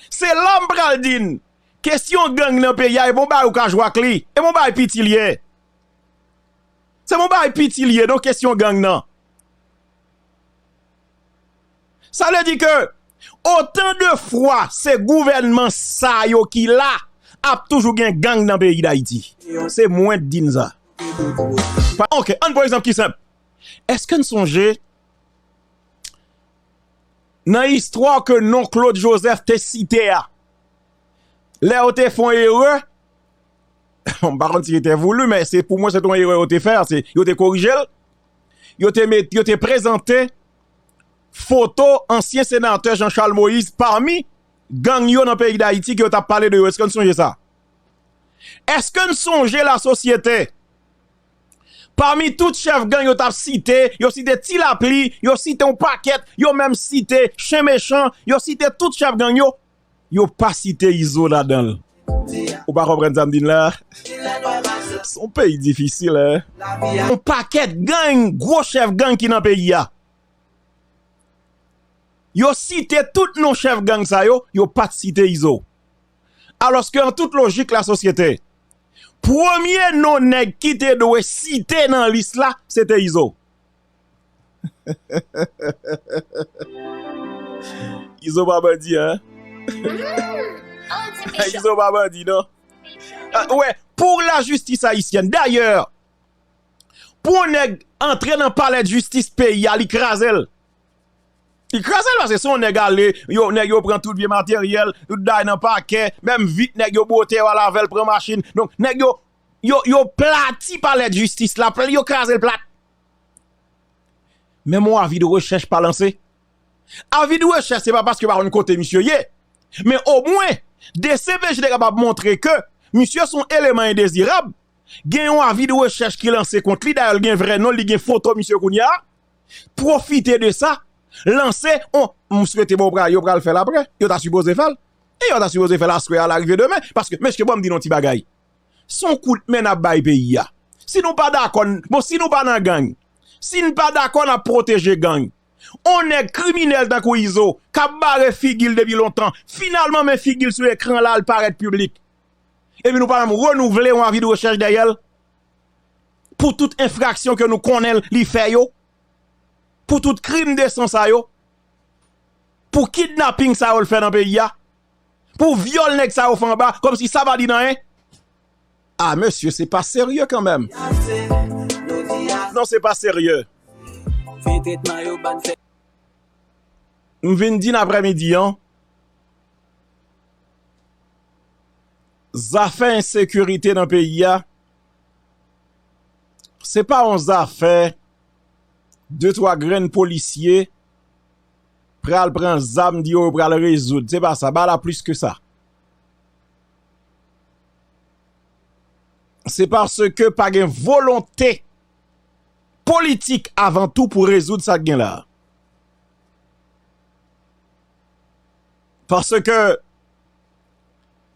Se la m pral di n, kesyon gang nan peyi a e bon bagay ou ka jwe ak li. E bon bagay piti li ye. Se bon bagay piti li ye non kesyon gang nan. Sa vle di ke otan de fwa se gouvènman sa yo ki la, ap toujou gen gang nan peyi Dayiti. Se mwen k di n sa. Ok, an n pran egzanp ki senp. Eske n sonje nan istwa ke non Claude Joseph te site a, lè yo te fon erè, m pa konn si se te voulu, men se pou mwen se te yon erè yo te fè, se yo te korije l, yo te met, yo te prezante foto ansyen senatè Jean Charles Moïse pami gang yo nan peyi Dayiti ke yo tap pale de yo, eske n sonje sa? Eske n sonje lasosyete Pami tout chèf gang yo t ap site, yo site Ti Lapli, yo site yon pakèt, yo menm site Chen Mechan, yo site tout chèf gang yo, yo pa site Izo ladan l. Ou pa konprann sa m di n la? Se yon peyi difisil, hein! Yon pakèt gang, gwo chèf gang ki nan peyi a. Yo site tout non chèf gang sa yo, yo pa t site Izo. alòske an tout lojik lasosyete, premye non nèg ki te dwe site nan lis la se te Izo. Izo pa bandi an. Izo pa bandi non. Wè, pou lajistis ayisyèn, dayè, pou yon nèg antre nan palèdjistis peyi a li kraze l. Li kraze l paske se yon nèg ale, nèg yo pran tout vye materyèl, tout bagay nan pakè, menm vit nèg yo bwote yo al avè l pran machin. Donk nèg yo, yo plati palè dijistis la, yo kraze l plat. Menm yon avi de rechèch pa lanse. Avi de rechèch se pa paske yo pa konn kote misye ye. Men o mwen, dcpj te kapab montre ke misye son eleman endezirab, gen yon avi de rechèch ki lanse kont li, dayè l gen vrè non l, li gen foto misye kounya. pwofite de sa, lanse on, m swete bon yo pral fè l aprè, yo ta sipoze fè l, e yo ta sipoze fè l aswè a larive demen, paske mesye ban m di nou ti bagay, s on kout men n ap bay peyi a, si nou pa dakò, bon si nou pa nan gang, si n pa dakò n ap pwoteje gang, on nèg kriminèl tankou Izo, k ap bare figi l depi lontan, finalman men figi l sou ekran la, l parèt piblik, epi nou pa menm renouvle on avi de rechèch dèyè l. pou tout enfraksyon ke nou konnen li fè yo, pou tout krim de san sa yo, pou kidnaping sa yo l fè nan peyi a, pou vyòl nèg sa yo fè anba, kòm si sa pa di nan en. A mesye se pa serye kan menm. Non se pa serye. M vin di nan aprè midi an. Zafè ensekirite nan peyi a, se pa yon zafè de twa grenn polisye pral pran zam di yo pral rezoud, se pa sa, ba la plis ke sa. Se paske pa gen volonte politik avan tou pou rezoud sa gen la. Paske...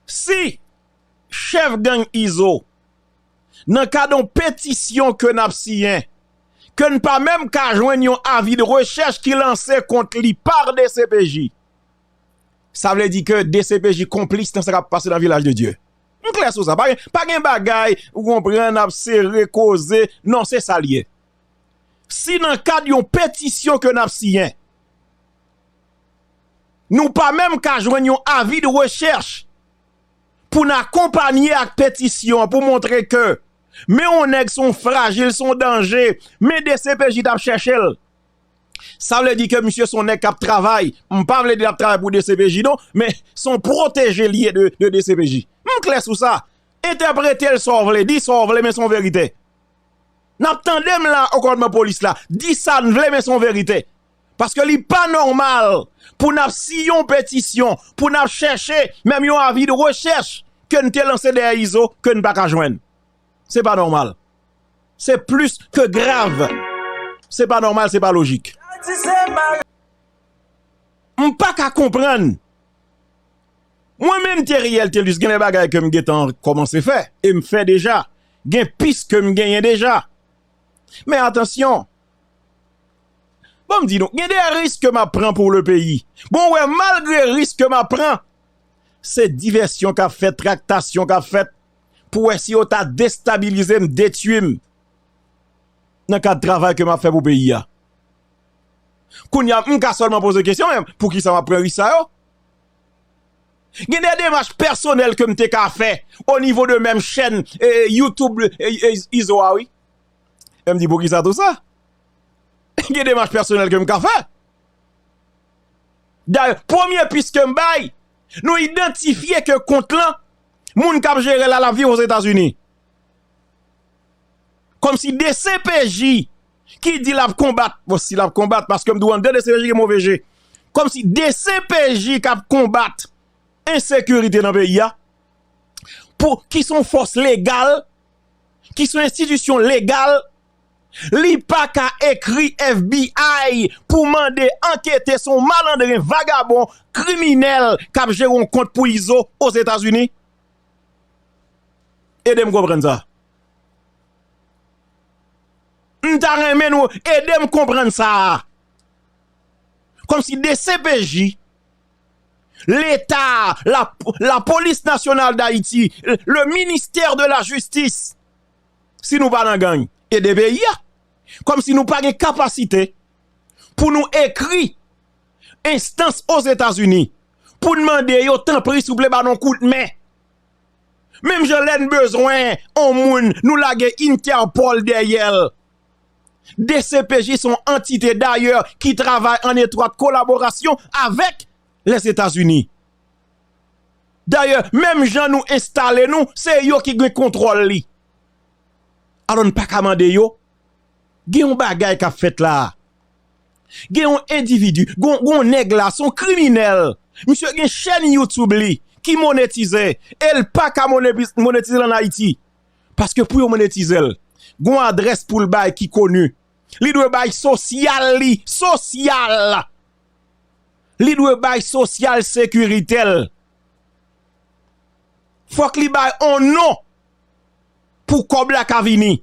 Si chèf gang Izo nan kad yon petisyon ke nap siyen, ke n pa menm ka jwenn yon avi de rechèch ki lanse kont li par dcpj, sa vle di ke dcpj konplis nan sa kap pase nan Vilaj de Dye. M klè sou sa, pa gen bagay ou konprann ap sere koze, non se sa l ye. Si nan kad yon petisyon ke nap siyen, Nou pa menm ka jwenn yon avi de rechèch pou n akonpanye ak petisyon an pou montre ke men yon nèg se yon frajil, se yon danje, men dcpj t ap chèche l. Sa vle di ke misye se yon nèg k ap travay, m pa vle di l ap travay pou dcpj non, men se yon pwoteje li ye de dcpj. M klè sou sa. Entèprete l sa w vle, di sa w vle men se yon verite. N ap tande m la o kòdman polis la, di sa n vle men se yon verite. Paske li pa nòmal pou n ap siy yon petisyon, pou n ap chèche menm yon avi de rechèch ke n te lanse dèyè Izo ke n pa ka jwenn. Se pa nòmal. Se plis ke grav. Se pa nòmal, se pa lojik. M pa ka konprann. Mwen menm Theriel Thelus gen de bagay ke m gen tan kòmanse fè e m fè deja. Gen pis ke m genyen deja. Men atansyon. Bon m di nou, gen de risk ke m ap pran pou le peyi. Bon wè, malgre risk ke m ap pran, se divèsyon k ap fèt, traktasyon k ap fèt, pou wè si yo ta destabilize m, detui m, nan kad travay ke m ap fè pou peyi a. Kounye a, m ka sèlman poze kesyon, men pou kisa m ap pran risk sa yo? Gen de demach pèsonèl ke m te ka fè, o nivo de menm chèn, e, youtube, e, izo a wi. E m di pou kisa tou sa? Gen demach pèsonèl ke m ka fè. Dayè, premye pis ke m bay, nou idantifye ke kont lan, moun k ap jere l a, l ap viv Ozetazini. Kòm si dcpj ki di l ap konbat, bon si l ap konbat, paske m di w anndan dcpj gen move je, kòm si dcpj k ap konbat ensekirite nan peyi a, pou ki son fòs legal, ki son enstitisyon legal, Li paka ekri FBI pou mande ankete son malandren vagabon kriminel kap jere yon kont pou izo ozetazini? Edem konprann sa. M ta renmen nou edem konprann sa. Komsi dcpj, leta, la polis nasyonal dayiti, le minister de la jistis. si nou pa nan gang ede peyi a kòm si nou pa gen kapasite pou nou ekri enstans ozetazini pou n mande yo tanpri souple ba nou kout men menm jan lè n bezwen on moun nou lage interpol dèyè l dcpj son antite dayè ki travay an etwat kolaborasyon avèk lèzetazini. Dayè menm jan nou enstale nou se yo ki gen kontwòl li. Alò n pa ka mande yo? Gen yon bagay k ap fèt la a. Gen yon endividi, gen yon nèg la a se yon kriminèl. Misye gen chèn YouTube li ki monetize e l pa ka monetize l ann Ayiti. Paske pou yo monetize l, gen yon adrès pou l bay ki koni. Li dwe bay sosyal li, sosyal! li dwe bay sosyal sekirite l, fòk li bay on non pou kòb la ka vini.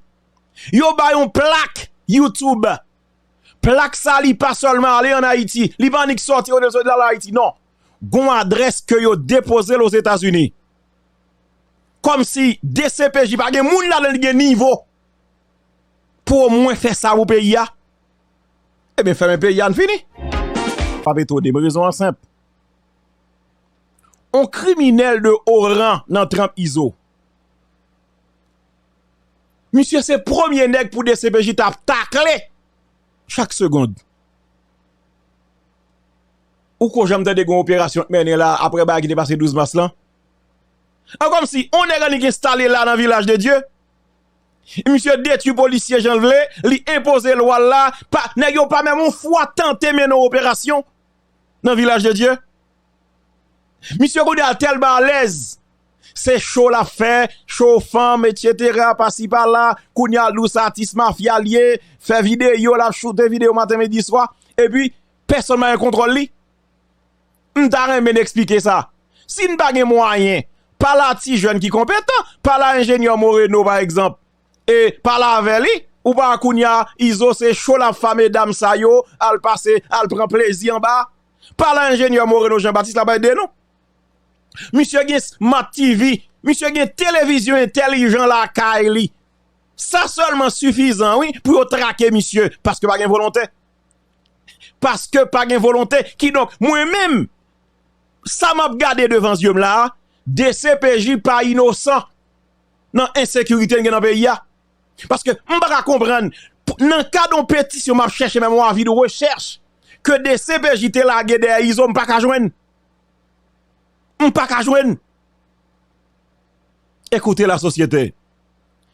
Yo bay on plak YouTube, plak sa li pa sèlman ale an Ayiti, li pa annik sòti yo deside al Ayiti non. Gon adrès ke yo depoze l Ozetazini. Kòm si dcpj pa gen moun ladan l ki gen nivo pou omwen fè sa pou peyi a. Ebyen fèmen peyi a n fini. Pap etone m, rezon an senp. On kriminèl de o ran nan tranp Izo. Misye se premye nèg pou dcpj ta ap takle chak segond. Ou ko janm tande gon operasyon k mennen la aprè bagay ki te pase 12 mas lan? An kòmsi on nèg an li k enstale la nan vilaj de Dye. Misye detwi polisye jan l vle, li enpoze lwa l la, pa nèg yo pa menm yon fwa tante mennen yon operasyon nan vilaj de Dye. Misye kounye a tèlman alèz, se cho l ap fè, cho fanm etsetera pasi pala, kounye a l di w se atis mafya l ye, fè videyo l ap choute videyo maten midi swa, epi pèsòn pa gen kontwòl li. M ta renmen n eksplike sa. Si n pa gen mwayen, pale a ti jèn ki konpetan, pale a enjenyè Moreno pa egzanp, e pale avè li, ou pa wè kounye a Izo se cho l ap fa medam sa yo al pase, al pran plezi anba a. Pale a enjenyè Moreno Jean Baptiste l ap ede nou. Misye gen Smart TV, misye gen televizyon entèlijan lakay li. Sa sèlman sifizan wi pou yo trake misye paske pa gen volontè. paske pa gen volonte kidonk mwen menm sa m ap gade devan zye m la a dcpj pa inosan nan ensekirite n gen nan peyi a paske m pa ka konprann nan kad yon petisyon m ap chèche menm yon avi de rechèch ke dcpj te lage dèyè izo m pa ka jwenn m pa ka jwenn ekoute la sosyete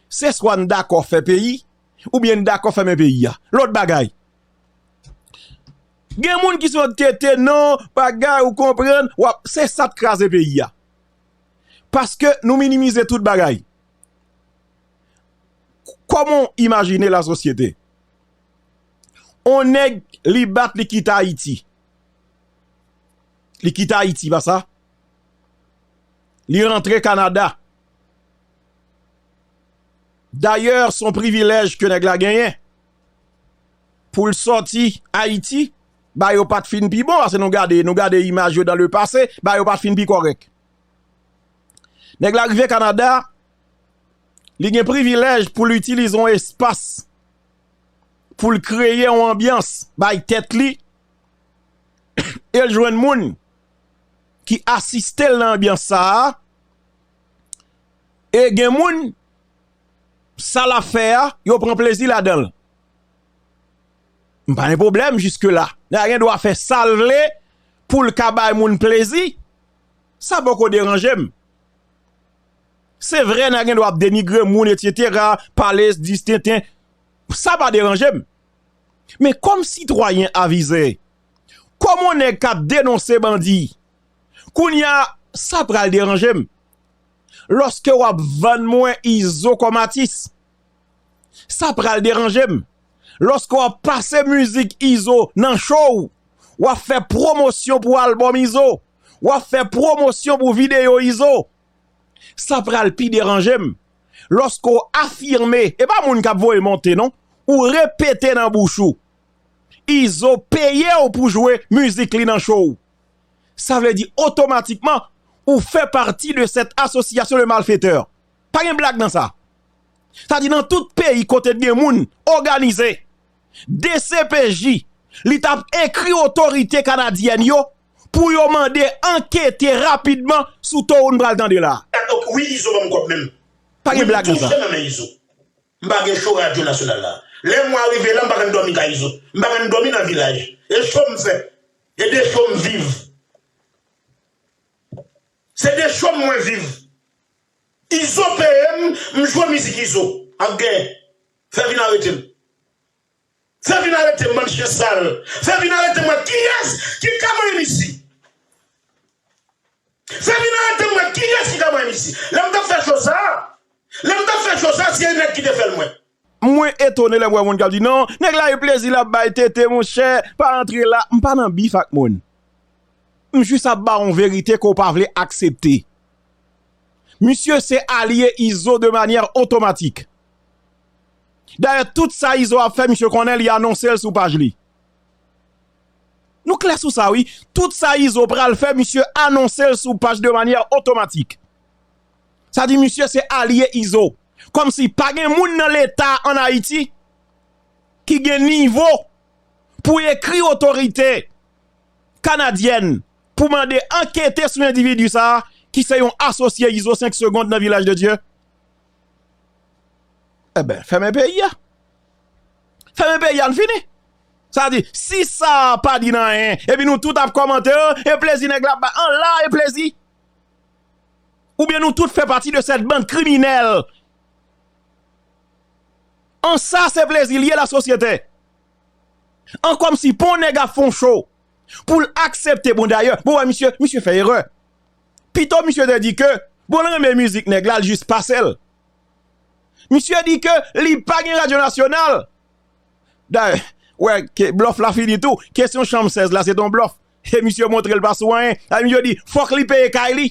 se swa n dakò fè peyi. Ou byen n dakò fèmen peyi a. Lòt bagay. Gen moun ki sot kete non bagay ou konprann wap se sat kraze peyi a. Paske nou minimize tout bagay. Kòman w imajine la sosyete. On nèg li bat li kite Ayiti. Li kite Ayiti pa sa. Li rantre Kanada. Dayè se yon privilèj ke nèg la genyen pou l sòti Ayiti, bagay yo pa t fin pi bon pase nou gade, nou gade imaj yo dan le pase, bagay yo pa t fin pi kòrèk. Nèg la rive Kanada, li gen privilèj pou l itilize yon espas pou l kreye yon anbyans bay tèt li e l jwenn moun ki asiste l nan anbyans sa a. E gen moun, sa l ap fè a, yo pran plezi ladan l. M pa gen pwoblèm jiske la. Nèg la gen dwa fè sa l vle pou l ka bay moun plezi. Sa poko deranje m. Se vre nèg la gen dwa ap denigre moun etsetera, pale di s tenten. Sa pa deranje m. Men kòm sitwayen avize, kòm on nèg k ap denonse bandi, kounye a sa pral deranje m. Lòske w ap vann mwen Izo kòm atis, sa pral deranje m. Lòske w ap pase mizik Izo nan cho w, w ap fè pwomosyon pou albòm Izo, w ap fè pwomosyon pou videyo Izo, sa pral pi deranje m. Lòske w afime, e pa moun k ap voye monte non, ou repete nan bouch ou, Izo peye w pou jwe mizik li nan cho w. sa vle di otomatikman ou fè pati de cette association de malfaiteurs. Pa gen blag nan sa. Sa di nan tout peyi kote gen moun oganize dcpj li tap ekri otorite kanadyèn yo pou yo mande ankete rapidman sou to ou n pral tande la. Ok wi izo banm kob menm Pa gen wi m blag nan sa. toujou nan men izo m pa gen show radio national la lè mwa rive la m pa kan domi kay izo m pa kan domi nan vilaj e show m fè E de cho m viv. Se de cho m mwen viv. Izo peye m, m jwe mizik Izo ap genyen. Fè vin arete m. Fè vin arete m bann chyen sal. Fè vin arete m wè kiyès ki ka manyen m isi. Fè vin arete m wè kiyès ki ka manyen m isi. Lè m t ap fè cho sa, lè m t ap fè cho sa se yon nèg ki te fè l mwen. Mwen etone lèm wè moun kap di non nèg la gen plezi lap bay tete monchè pa antre la m pa nan bif ak moun m jis ap ba w yon verite ke w pa vle aksepte misye se alye izo de manyè otomatik dayè tout sa izo ap fè misye konnen li anonse l sou paj li nou klè sou sa wi tout sa izo pral fè misye anonse l sou paj de manyè otomatik Sa di misye se alye izo. Komsi pa gen moun nan leta an ayiti ki gen nivo pou ekri otorite kanadyèn pou mande ankete sou endividi sa ki se yon asosye izo 5 segond nan vilaj de dye. Eben fèmen peyi a. Fèmen peyi a n fini. Sa di si sa pa di nan anyen epi nou tout ap komante e plezi nèg la ap bay an la e plezi. Ou byen nou tout fè pati de sèt band kriminèl. An sa se plezi li ye la sosyete. An kòm si pon nèg ap fon cho pou l aksepte bon dayè. Bon wè misye, misye fè erè. Pito misye te di ke bon l renmen mizik nèg la l jis pase l. Misye di ke li pa gen radyo nasyonal. Dayè, wè ke blòf la fini tou. Kesyon chanm 16 la se te yon blòf. E misye montre l pa sou anyen. Sa vle di yo di fòk li peye kay li.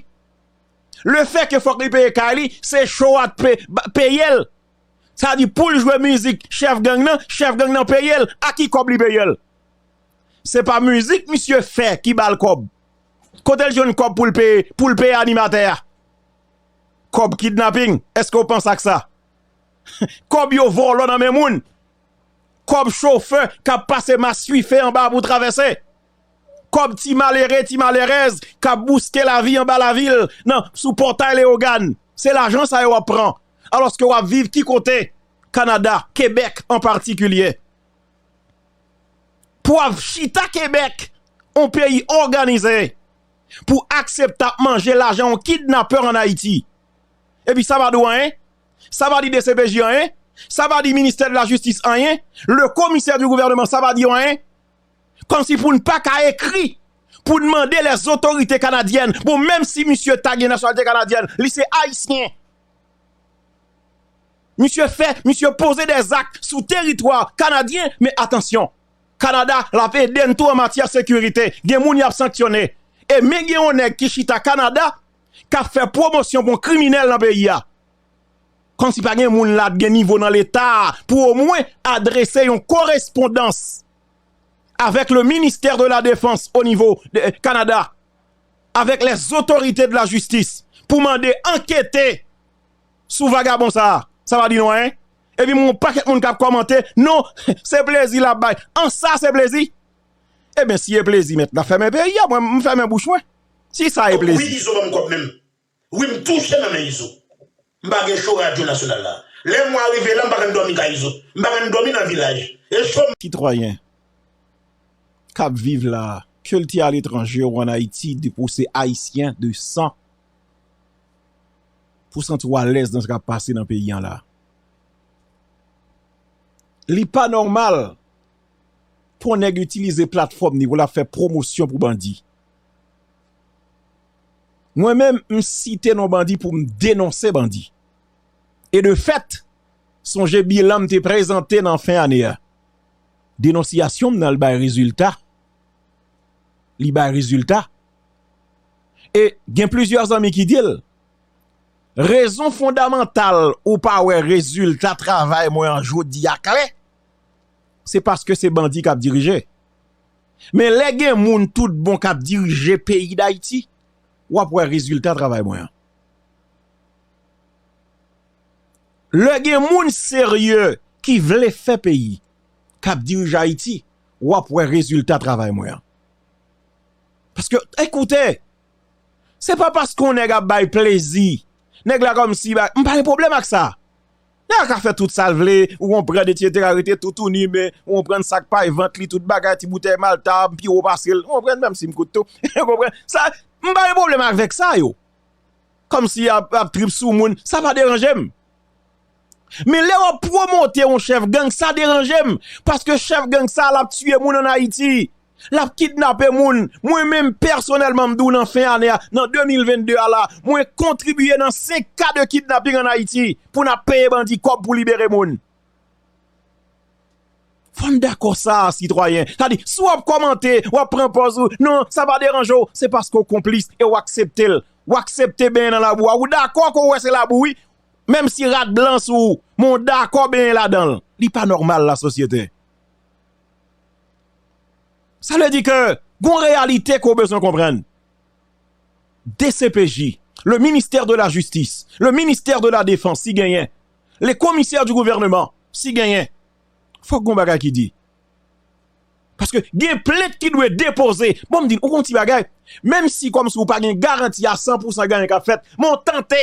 Le fè ke fòk li peye kay li, se show a t peye l. Sa vle di pou l jwe mizik chèf gang nan, chèf gang nan peye l. A ki kòb li peye l? Se pa mizik misye fè ki ba l kòb. Kote l jwenn kòb pou l peye, pou l peye animatè a? Kòb kidnapping, èske ou panse ak sa? Kòb yo vòlò nan men moun. Kòb chofè kap pase maswife anba pou travèse. Kòb ti malere, ti malerèz kap bouske lavi anba lavil nan sou pòtay Leyogàn. Se lajan sa yo wap pran. Alòske wap viv ki kote? Kanada, Kebèk an patikilye. Pou wap chita Kebèk, yon peyi òganize, pou aksepte ap manje lajan yon kidnapè an Ayiti. Epi sa pa di w anyen? sa pa di dcpj anyen, sa pa di ministè de la justice anyen, le commissaire du gouvernement sa pa di yo anyen, kòmsi pou n pa ka ekri pou n mande les autorités canadiennes, bon menm si misye ta gen nasyonalite kanadyèn, li se ayisyen, misye fè, misye poze dè zak sou teritwa kanadyen, men atansyon, Kanada l ap ede n tou an matyè sekirite, gen moun y ap sanksyone, e men gen yon nèg ki chita Kanada, kap fè pwomosyon pou kriminèl nan peyi a. Kòm si pa gen moun la gen nivo nan leta pou o mwen adrese yon korespondans avèk le ministè de la defans o nivo Kanada, avèk lè zotorite de la jistis pou mande ankete sou vagabon sa a. Sa pa di nou anyen. E pi m wè yon pakèt moun kap kòmante, non se plezi lap bay. An sa se plezi? E ben si e plezi mèt la fèmen peyi a, mwen m fèmen bouch mwen. Si sa e Kòb wi plezi. izo banm kòb menm wi m touche nan men izo m pa gen show radio national la lè mwa rive la m pa kan dòmi kay izo m pa kan dòmi nan vilaj e show m Sitwayen kap viv la kel te aletranje ou an ayiti depi ou se ayisyen de san pou santi w alèz nan sa kap pase nan peyi an la li pa nòmal pou yon nèg itilize platfòm li pou lap fè pwomosyon pou bandi. Mwen menm m site non bandi pou m denonse bandi. E de fèt, sonje bilan m te prezante nan fen ane a. Denonsyasyon m nan al bay rezilta. Li bay rezilta. E gen plizyè zanmi ki di l, rezon fondamantal ou pa wè rezilta travay mwen an jodi a klè, se paske se bandi k ap dirije. Men lè gen moun tout bon k ap dirije peyi Dayiti, w ap wè rezilta travay mwen an. Lè gen moun serye ki vle fè peyi, k ap dirije Ayiti, w ap wè rezilta travay mwen an. Paske, ekoute, se pa paske yon nèg ap bay plezi, nèg la kòmsi, m pa gen pwoblèm ak sa. Nèg la ka fè tout sal vle, ou konprann etsetera rete toutouni men ou konprann sak pay vant li tout bagay ti boutèy malta a m pi wo pasel ou konprann menm sim kout tou ou konprann sa m pa gen pwoblèm avèk sa yo kòmsi yap ap trip sou moun sa pa deranjem men lè wap pwomote yon chèf gang sa deranjem paske chèf gang sa lap tiye moun an ayiti Lap kidnape moun. Mwen menm pèsonèlman m di w nan fen ane a, nan 2022 a la, mwen kontribye nan 5 ka de kidnaping an Ayiti pou n ap peye bandi kòb pou libere moun. Fò n dakò sa a sitwayen. Sa di, si w ap kòmante, w ap pran pòz ou, non, sa pa deranje w, se paske w konplis e w aksepte l. W aksepte benyen nan labou a. Ou dakò ke w wè se labou wi, menm si rad blan sou ou, men w dakò benyen ladan l. Li pa nòmal lasosyete. Sa vle di ke gon reyalite ke w bezwen konprann. Dcpj, le ministère de la justice, le ministère de la défense si genyen, les commissaires du gouvernement si genyen, fòk gon bagay ki di. Paske gen plent ki dwe depoze. Bon m di n, ou gen yon ti bagay, menm si kòmsi ou pa gen garanti a 100 pousan gen anyen k ap fèt, men w tante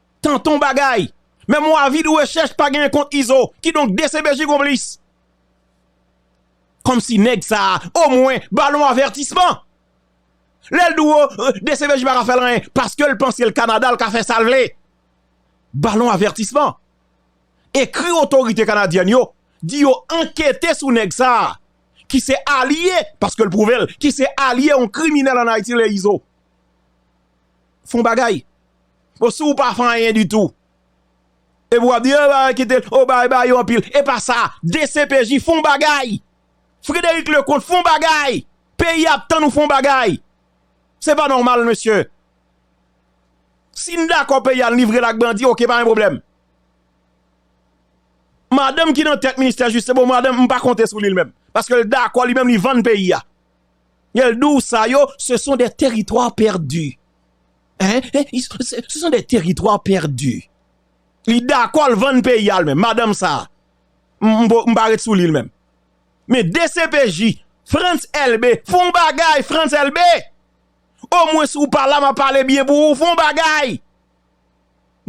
Tonton bagay! Men mwa vid rechèch pa genyen kont Izo, kidonk dcpj konplis! Kòmsi nèg sa a omwen ba l yon avètisman! Lè l di w dcpj pa ka fè l anyen paske l panse l Kanada l ka fè sa l vle! Ba l yon avètisman! Ekri otorite kanadyèn yo, di yo ankete sou nèg sa a ki se alye, paske l pwouve l, ki se alye yon kriminèl an Ayiti rele Izo! Fon bagay! Bon si ou pa fè anyen ditou. Epi wap di epa kite l oh bay bay yo anpil epa sa dcpj fon bagay Frederic Leconte fon bagay peyi ap tann ou fon bagay se pa nòmal mesye si n dakò peyi a n livre l ak bandi ok pa gen pwoblèm madanm ki nan tèt ministè jistis bon madanm m pa konte sou li l menm paske l dakò li menm li vann peyi a lè l di w sa yo se son de teritwa pèdi. Hein? Ce sont des territoires perdus. Li dakò l vann peyi a l menm. Madanm sa a. M pa ret sou li l menm. Men dcpj, Frantz Elbe, fè yon bagay Frantz Elbe! Omwens ou pa la m ap pale byen pou ou. Fè yon bagay!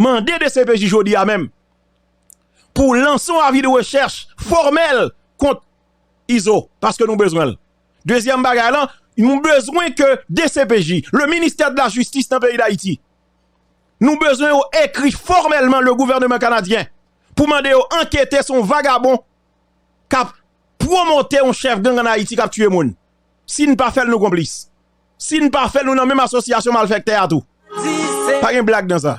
Mande dcpj jodi a menm pou lanse yon avi de rechèch fòmèl kont Izo paske nou bezwen l. Dezyèm bagay lan, nou bezwen ke dcpj, le ministè de la jistis nan peyi Dayiti, nou bezwen yo ekri fòmèlman le gouvèneman kanadyen pou mande yo ankete sou yon vagabon k ap pwomote yon chèf gang an Ayiti k ap tiye moun. Si n pa fè l nou konplis. Si n pa fè l nou nan menm asosyasyon malfèktè a tou. Pa gen blag nan sa.